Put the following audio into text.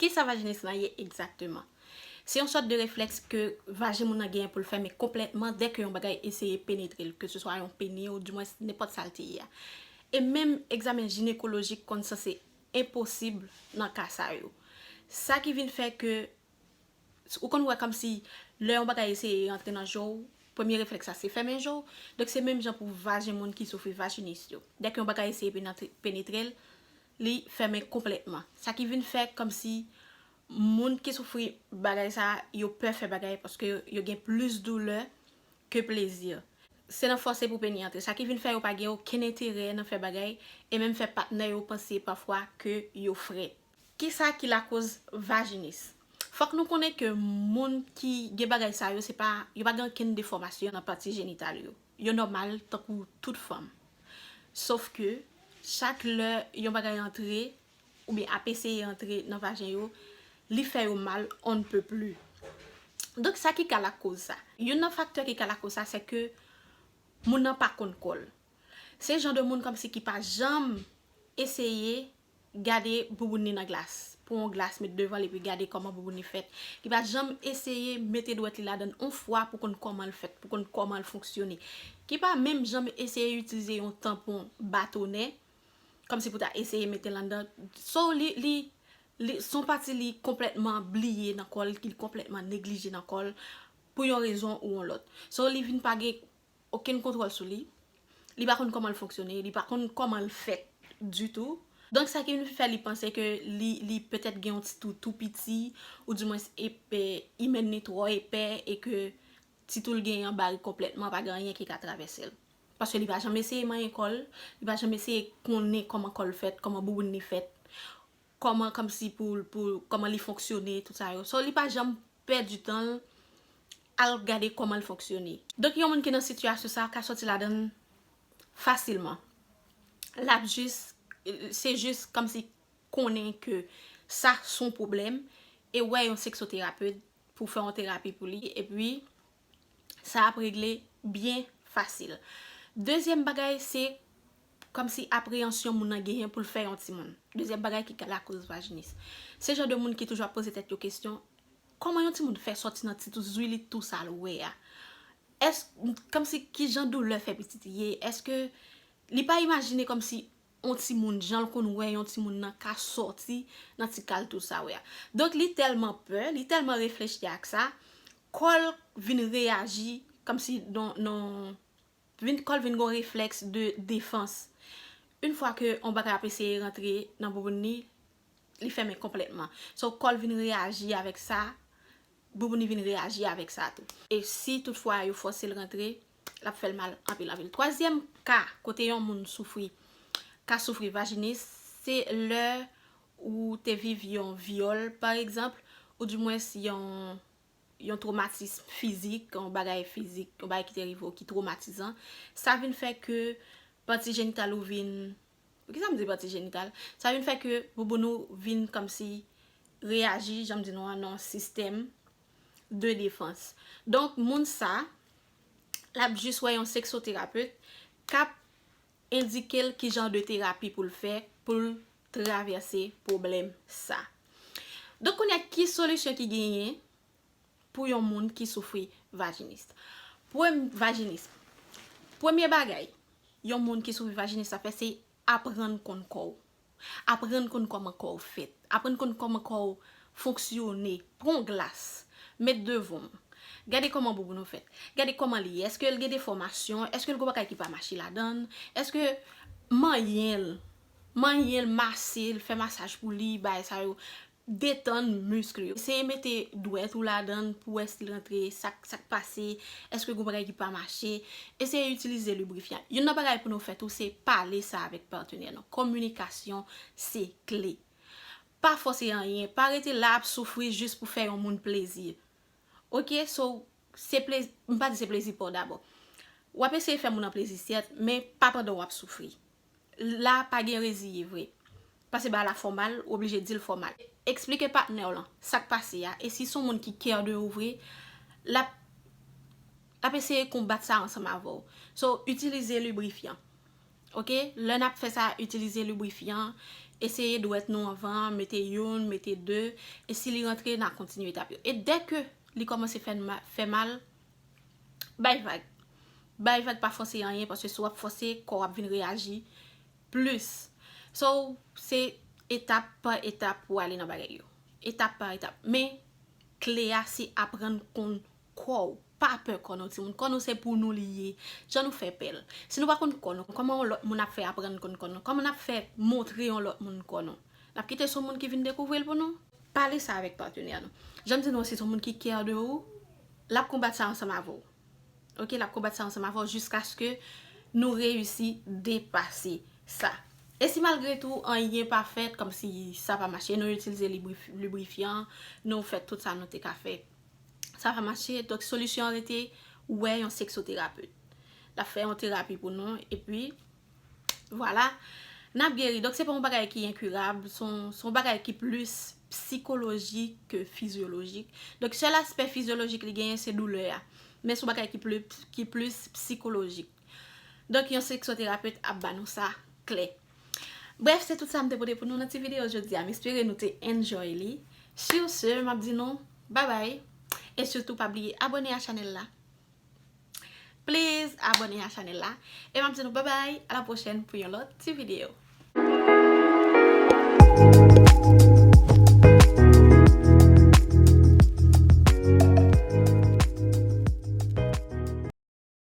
Kisa vajinis lan ye egzakteman? Se yon sòt de reflèks ke vajen moun lan genyen pou l fèmen konplètman dè ke yon bagay eseye penetre l, ke se swa yon peni ou dimwens nenpòt sa l te ye a. E menm egzamen jinekolojik konn sanse enposib nan ka sa yo. Sa ki vin fè ke ou konn wè kòmsi lè yon bagay eseye rantre nan je w, premye reflèks la se fèmen je w. Donk se menm jan pou vajen moun ki soufri vajinis yo. Dèk yon bagay eseye penetre l, li fèmen konplètman. Sa ki vin fè kòmsi moun ki soufri bagay sa a, yo pè fè bagay paske yo gen plis doulè ke plezi. Se nan fòse pou peni antre. Sa ki vin fè yo pa gen okenn enterè nan fè bagay e menm fè patnè yo panse pafwa ke yo frèt. Kisa ki lakoz vajinis? Fòk nou konnen ke moun ki gen bagay sa yo se pa, yo pa gen okenn defòmasyon nan pati jenital yo. Yo nòmal tankou tout fanm. Sof ke chak lè yon bagay antre oubyen ap eseye antre nan vajen yo, li fè yo mal on ne peut plus. Donk sa ki ka lakoz sa? Youn nan faktè ki ka lakoz sa se ke moun nan pa konn kò l. Se jan de moun kòmsi ki pa janm eseye gade bouboun li nan glas, pran yon glas met devan l epi gade kòman bouboun li fèt. Li pa janm eseye mete dwèt li ladan l yon fwa pou konn kòman l fèt, pou konn kòman l fonksyone. Ki pa menm janm eseye itilize yon tanpon batonè, kòmsi pou ta eseye mete l anndan. So li, li, li, s on pati li konplètman bliye nan kò l, ki l konplètman neglije nan kò l, pou yon rezon ou yon lòt. So li vin pa gen. okenn kontwòl sou li, li pa konn kòman l fonksyone, li pa konn kòman l fèt ditou. Donk sa ki vin fè li panse ke li petèt gen yon ti tou tou piti, ou di mwens epè, imèn li twò epè e ke ti tou l genyen an bare konplètman, pa gen anyen ki ka travèse l. Paske li pa janm eseye manyen kò l, li pa janm eseye konnen kòman kò l fèt, kòman bouboun li fèt, kòman kòmsi pou, pou, kòman li fonksyone, tout sa yo. So li pa janm pèdi tan l al gade kòman l fonksyone. Donk yon moun ki nan sitiyasyon sa a ka sòti ladan l fasilman. L ap jis, se jis kòmsi konnen ke sa s on pwoblèm e wè yon seksoterapet pou fè yon terapi pou li epi. sa ap regle byen fasil. Dezyèm bagay se kòmsi apreyansyon moun nan genyen pou l fè yon timoun. Dezyèm bagay ki ka lakoz vajinis. Se jan de moun ki toujou ap poze tèt yo kesyon, kòman yon timoun fè sòti nan ti tou zui li tou sa l wè a? Èske, kòmsi ki jan doulè fè pitit ye? Èske li pa imajine kòmsi on timoun janl konn wè yon timoun nan ka sòti nan ti kal tou sa wè a donk li tèlman pè li tèlman reflechi ak sa kòl vin reyaji kòmsi non non vin kòl vin gon reflèks de defans yn fwa ke on bagay ap eseye rantre nan bouboun ni li fèmen konplètman so kòl vin reyaji avèk sa bouboun ni vin reyaji avèk sa tou e si tout fwa yo fòsel rantre l ap fè l mal anpil anpil. Twazyèm ka kote yon moun soufri ka soufri vajinis se lè ou te viv yon vyòl pa egzanp ou di mwens yon yon twomatism fizik yon bagay fizik yon bagay ki te rive w ki twomatizan sa vin fè ke pati jenital ou vin Poukisa m di pati jenital? Sa vin fè ke bouboun ou vin kòmsi reyaji jan m di nou an nan yon sistèm de defans. Donk moun sa, l ap jis wè yon seksoterapet k ap endike l ki jan de terapi pou l fè pou l travèse pwoblèm sa. Donk kounye a ki solisyon ki genyen? pou yon moun ki soufri vajinis. Vajinism. Premye bagay yon moun ki soufri vajinis ap fè se aprann konn kò w. Aprann konn kòman kò w fèt. Aprann konn kòman kò w fonksyone. Pran yon glas, met devan w. Gade kòman bouboun ou fèt. Gade kòman li ye. Eske l gen defòmasyon? Eske l gen bagay ki pa mache ladan l? Eske manyen l, manyen l, mase l, fè masaj pou li, bay sa yo. Detann misk li. Eseye mete dwèt ou ladan l pou wè si l rantre, sa k pase, èske gen yon bagay ki pa mache. Eseye itilize librifyan. Youn nan bagay pou nou fè tou se pale sa avèk patenè nou. Kominikasyon se kle. Pa fòse anyen. Pa rete la ap soufri jis pou fè yon moun plezi. Ok, so, se plezi, m pa di se plezi pa w dabò. W ap eseye fè moun an plezi sèt, men pa pandan w ap soufri. La pa gen reziye vre. Pase ba la fò mal, ou oblije dil fò mal. Eksplike patnèw lan sak pase a e si son moun ki care de ou vre lap lap eseye konbat sa ansanm avèw. So itilize librifyan ok lè nap fè sa itilize librifyan eseye dwèt nou anvan mete youn mete 2 e si li rantre na kontinye etap yo e dèke li kòmanse fè mal Bay vag. Bay vag pa fòse anyen paske si wap fòse kò wap vin reyaji plis. So se etap pa etap pou ale nan bagay yo. Etap pa etap. Men kle a se aprann konn kò ou. Pa pè kò nou timoun. Kò nou se pou nou li ye. Jan nou fè pèl. Si nou pa konn kò nou. Kòman yon lòt moun ap fè aprann konn kò nou. Kòman nap fè montre yon lòt moun kò nou. Nap kite son moun ki vin dekouvri l pou nou. Pale sa avèk patenè nou. Jan m di nou an, si s on moun ki care de ou, l ap konbat sa ansanm avè w. Ok, l ap konbat sa ansanm avè w jiskaske nou reyisi depase sa. E si malgre tou, anyen pa fèt, kòmsi sa pa mache, nou itilize librifyan, nou fè tout sa nou te ka fè, sa pa mache, donk solisyon an rete wè yon seksoterapet. L ap fè yon terapi pou nou, epi Vwala, n ap geri. Donk se pa yon bagay ki enkurab, se yon bagay ki plis psikolojik ke fizyolojik. Donk sèl aspè fizyolojik li genyen se doulè a. Men se yon bagay ki plis psikolojik. Donk yon seksoterapet ap ba nou sa klè. Bref, se tout sa m te pote pou nou nan ti videyo jodi a. M espere nou te enjoy li. Sur ce, m ap di nou, bye bye. E sitou pa bliye abone a chanèl la. Please abone a chanel la. E map di nou babay a la pwochen pou yon lot ti video.